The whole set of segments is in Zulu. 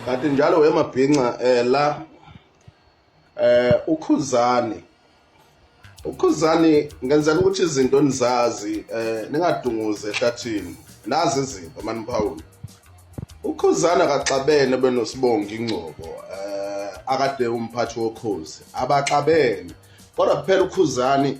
kanti njalo wemabhinca um eh, la eh ukhuzani ukhuzani ngenzela ukuthi izinto nizazi eh ningadunguze ehlathini nazi izinto maniphawula ukhuzani akaxabene benosibongi ingcobo eh akade umphathi wokhozi abaxabene kodwa kuphela ukhuzani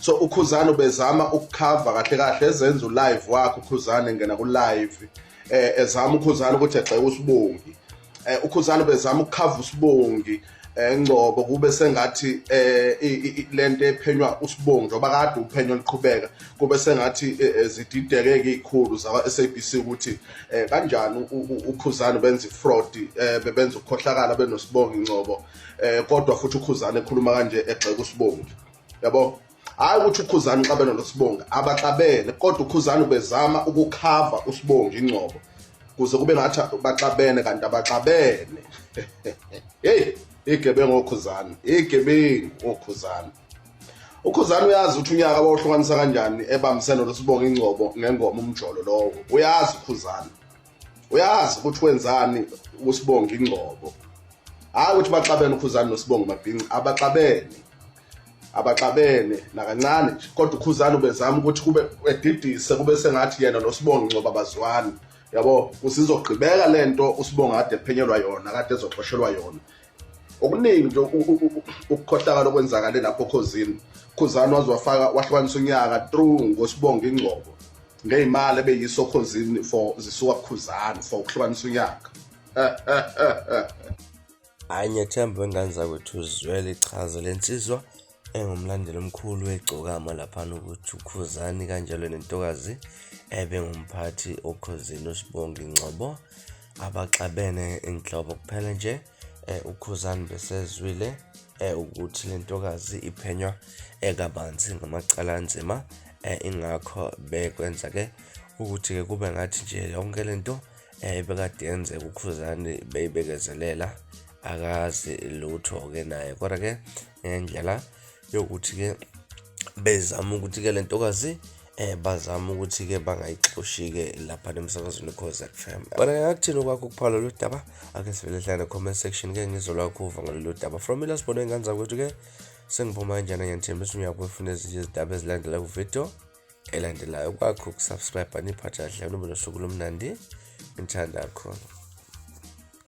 so ukhuzane ubezama ukukhava kahle kahle ezenza ulive wakhe ukhuzane ngena kulive eh ezama ukhuzane ukuthi egxeke usibongi eh ukhuzane ubezama ukukhava usibongi eh, ngcobo kube sengathi eh lento ephenywa usibongi njengoba kade uphenyo liqhubeka kube sengathi eh, eh, zididekeke izikhulu zakwa SABC ukuthi kanjani ukhuzane benza ifraud bebenza ukukhohlakala benosibongi ngcobo kodwa futhi ukhuzane ekhuluma kanje egxeka usibongi yabo hayi ukuthi ukhuzani uxabene nosibonga abaxabene kodwa ukhuzani ubezama ukukhava usibonga ingcobo kuze kube ngathi baxabene kanti abaxabene heyi igebengu okhuzani igebengu okhuzani ukhuzani uyazi ukuthi unyaka wawuhlukanisa kanjani ebambisene losibonga ingcobo ngengoma umjolo lowo uyazi ukhuzani uyazi ukuthi wenzani usibonga ingcobo hayi ukuthi baxabene ukhuzani nosibonga mabhinci abaxabene abaxabene nakancane nje kodwa ukhuzani ubezama ukuthi kube edidise kube sengathi yena nosibonga ingcobo abazwani yabo kusizogqibeka lento usibonga kade ephenyelwa yona kade ezoxoshelwa yona okuningi nje ukukhohlakala okwenzakale lapho khozini khuzani waze wafaka wahlukanisa unyaka through ngosibonga ingcobo ngeyimali ebeyiso khozini for zisuka kukhuzani for ukuhlukanisa unyaka hayi ngethemba wengane zakwethu uzwele ichaza lensizwa engumlandeli omkhulu wegcokama laphana ukuthi ukhuzani kanjalo nentokazi ebe ngumphathi okhozini usibongi ngcobo abaxabene inhlobo kuphela nje eh, ukhuzani besezwile eh, ukuthi le ntokazi iphenywa ekabanzi ngamacala anzima eh, ingakho bekwenza-ke ukuthi-ke kube ngathi nje yonke le nto ebekade yenzeka ukhuzani beyibekezelela akazi lutho-ke naye kodwa-ke ngendlela yokuthi-ke bezama ukuthi-ke le ntokazi eh bazama ukuthi-ke bangayixoshi-ke lapha nemsakazweni cause fm bona ngakuthini okwakho ukuphala lolu daba ake sivele hlane comment section ke ngizolakho uva ngalolu daba from mina sibone ingane zakwethu-ke sengiphuma kanjani ngiyangithembisa uyakuwefuna ezinye izindaba ezilandela kuvidiyo elandelayo kwakho ukusubscribe niphatha kahle noma nosuku lomnandi ngithanda khona